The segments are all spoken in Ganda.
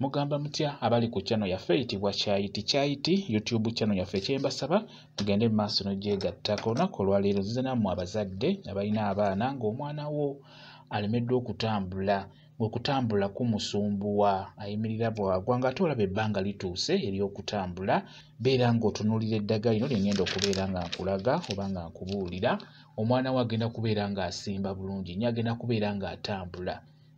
mugamba mutya abali ku channel yaffe eyitibwa kyayiti kyayiti youtube channel yaffe kyembasaba mugende mu maaso nogyegattako olunaku olwaleero nzize nammwe abazadde abalina abaana ng'omwana wo alemeddwa okutambula ng'okutambula kumusumbuwa ayimirira bwagwa ng'ate olaba ebbanga lituuse ery'okutambula beera ng'otunuulira eddaga lino lye ngenda okubeera nga nkulaga oba nga nkubuulira omwana wo agenda kubeera ng'asimba bulungi nyo agenda kubeera ng'atambula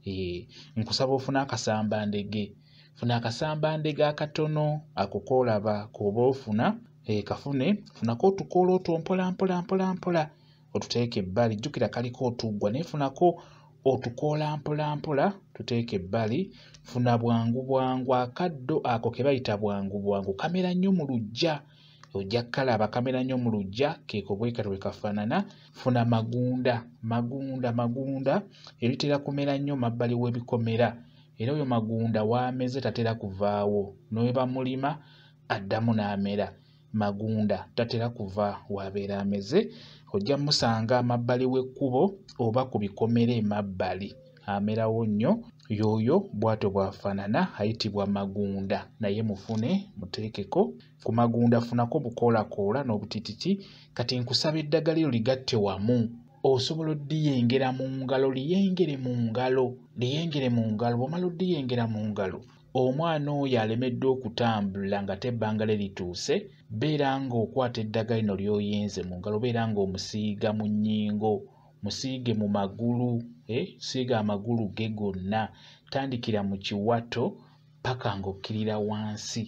Eh, nkusaba ofune akasamba ndege funa akasamba ndege akatono ako kolaba koba ofuna eh, kafune funako otukoola otwo mpola mpola mpola mpola otuteeke ebbali jjukira kaliko otuggwa naye funako otukoola mpola mpola tuteeke ebbali funa bwangu bwangu akaddo ako ke bayita bwangu bwangu kamera nnyo mu lujja ojja kukalaba kamera nnyo mu lujja keeko bwekati bwe kafaanana funa magunda magunda magunda ebitera kumera nnyo mabbali w'ebikomera era oyo magunda waameze tatera kuvaawo newebamulima addamu n'amera magunda tatera kuva waabeera ameze ojja musanga amabbali w'ekkubo oba ku bikomera emabbali amerawo nnyo yooyo bwatyo bwafanana ayitibwa magunda naye mufune muteekeko ku magunda funako bukoolakoola n'obutititi kati nkusaba eddagala eryo ligatte wamu osobola oddiyengera mu ngalo liyengere mu ngalo liyengere mu ngalo bwomala oddiyengera mu ngalo omwana oyo alemeddwa okutambula nga te ebbanga lye lituuse beera ng'okwata eddagala lino ly'oyenze mu ngalo beera ng'omusiiga mu nnyingo musiige mu magulu eh, siiga amagulu ge gonna tandikira mu kiwato paka ng'okkirira wansi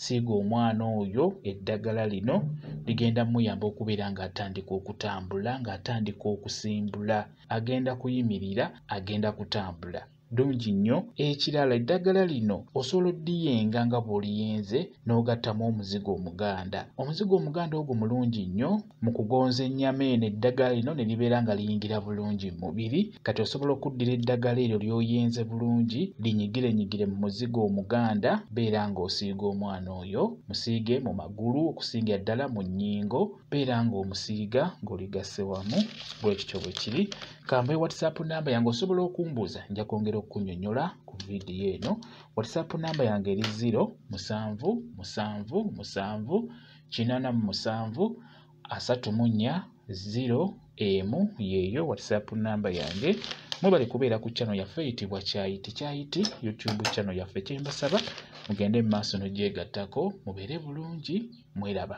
siiga omwana oyo eddagala lino ligenda muyamba okubeera ng'atandika okutambula ng'atandika okusimbula agenda kuyimirira agenda kutambula ddungi nnyo ekirala eddagala lino osobola oddiyenga nga bw'oliyenze n'ogattamu omuzigo omuganda omuzigo omuganda ogwo mulungi nnyo mu kugonza ennyama eno eddagala lino ne libeera nga liyingira bulungi mu mubiri kati osobola okuddira eddagala eryo ly'oyenze bulungi linyigirenyigire mu muzigo omuganda beera ng'osiiga omwana oyo musiige mu magulu okusingira ddala mu nnyingo beera ng'omusiiga ng'oligasse wamu bwe kityo bwe kiri kambaye whatsapp namba yange osobola okumbuuza nja kwongera okukunyonyola ku vidiyo eno whatsapp namba yange eri 0 musanvu musanvu musanvu kinana mu musanvu asatu mu nnya 0 emu yeeyo whatsapp namba yange mwebale kubeera ku channel yaffe eyitibwa kyayi tekyayiti youtube channel yaffe kyembasaba mugende mu maaso nogyegattako mubeere bulungi mweraba